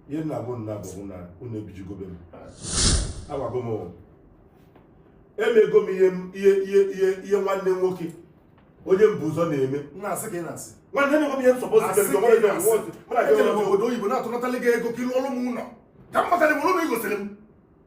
ihe nna bụ nna bụ na unu ebijigobe m agwago m emego m ihe ihe ihe ihe ihe nwanne nwoke onye m bu ụzọ na-eme na-asị ka ị na-asị nwanne m nwoke ihe nsọpụ Asị ka ị na-asị. Ejere m obodo oyibo na-atụnatali gị ego ka ị lụọrụ m ụlọ ka m matara m ụlọ i gosiri m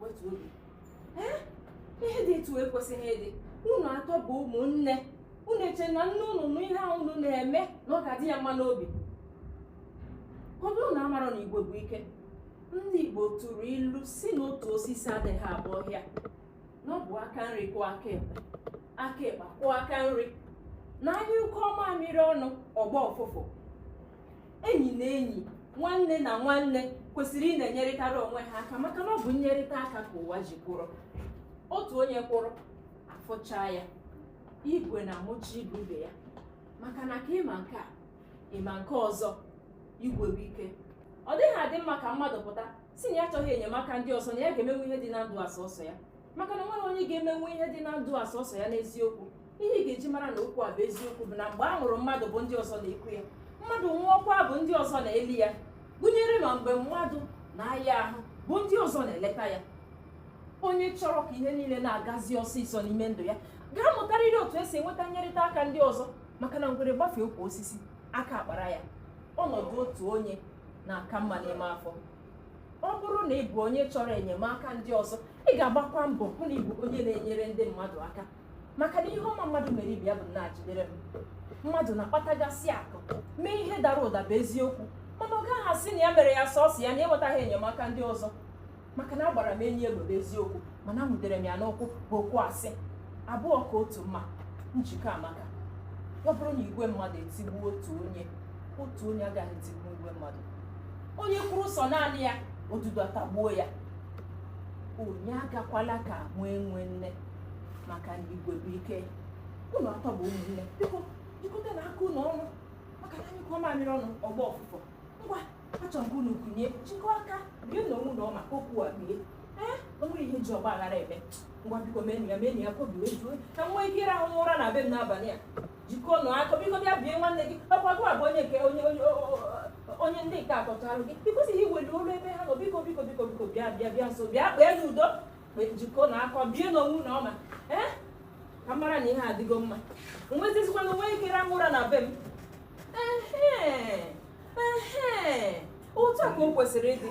wetu obi ee ihe dị etu ekwesịghị ịdị unu atọ bụ ụmụnne unu eche na nne unu nụ ihe ahụ unu na-eme na ọ ga-adị ya mma n'obi ọ bụ unu amaghị na igwe bụ ike ndị igbo tụrụ ilu sị na otu osisi adịghị abụ ọhịa na ọ bụ aka nri kwụọ aka ekpe aka ekpe kwụọ aka nri na a nyụkọọ mamịrị ọnụ ọ gbaa ụfụfụ enyi na enyi nwanne na nwanne kwesịrị ịna-enyerịtara onwe ha aka maka na ọ bụ nnyerịta aka ka ụwa ji kwụrụ otu onye kwụrụ a fụchaa ya igwe na-amụcha igwe ibe ya maka na ka ị ma nke a ị ma nke ọzọ igwe bụ ike ọ dịghị adị mma ka mmadụ pụta sị na ya achọghị enyemaka ndị ọzọ na ya ga-emenwu ihe dị na ndụ a sọsọ ya maka na enweghị onye ga-emenwu ihe dị na ndụ a sọsọ ya n'eziokwu ihe ị ga-eji mara na okwu a bụ eziokwu bụ na mgbe a mụrụ mmadụ bụ ndị ọzọ na-eku ya mmadụ nwụọkwa bụ ndị ọzọ na-eli ya gụnyere ma mgbe mmadụ na-aya ahụ bụ ndị ọzọ na-eleta ya onye chọrọ ka ihe niile na-agazi ọsịsọ n'ime ndụ ya ga-amụtarịrị otu esi enweta nnyerịta aka ndị ọzọ maka na ngwere gbafee ukwu osisi aka akpara ya ọnọdụ otu onye na-aka mma n'ime afọ ọ bụrụ na ị bụ onye chọrọ enyemaka ndị ọzọ ị ga-agbakwa mbọ hụ na ị bụ onye na-enyere ndị mmadụ aka maka na ihe ọma mmadụ mere ibe ya bụ naa jidere m mmadụ na-akpatagasị akụ mee ihe dara ụda bụ eziokwu mana ọ gaghị asị na ya mere ya sọsọ ya na enwetaghị enyemaka ndị ọzọ maka na agbara m enyi egbe bụ eziokwu mana enwudere m ya n'ụkwụ bụ okwu asị abụọ ka otu mma njikọ amaka ọ bụrụ na igwe mmadụ etigbuo otu onye otu onye agaghị etigbu igwe mmadụ onye kwụrụ sọ naanị ya odudu atagbuo ya onye agakwala ka nwa enwe nne maka na igwe bụ ike unu atọ bụ ụmụnne biko jikọtanụ aka unu ọnụ maka na a nyụkọọ mamịrị ọnụ ọ gbaa ụfụfụ ngwa achọrọ m ka unu kunie jikọọ aka bienụ onwe unu ọma ka okwu a bie ee o nwere ihe e ji ọgbaghara eme ngwa biko meenụ ya ka obi wee jụọ ka m nwee ike ịrahụ ụra na be m n'abalị a jikọnụ aka biko bịa bie nwanne gị ọkwa gị bụ onye nke onye onye o- o- o- onye ndị nke a tọcharụ gị i kwesịghị iweli olu ebe ha nọ biko biko biko biko bịa bịa bịa nso bịa kpeenụ udo kpe- jikọnụ aka bienụ onwe unu ọma ee ka m mara na ihe adịgo mma wezizikwanụ nwee ike rahụ ụra na be m ehe ehe otu a ka o kwesịrị ịdị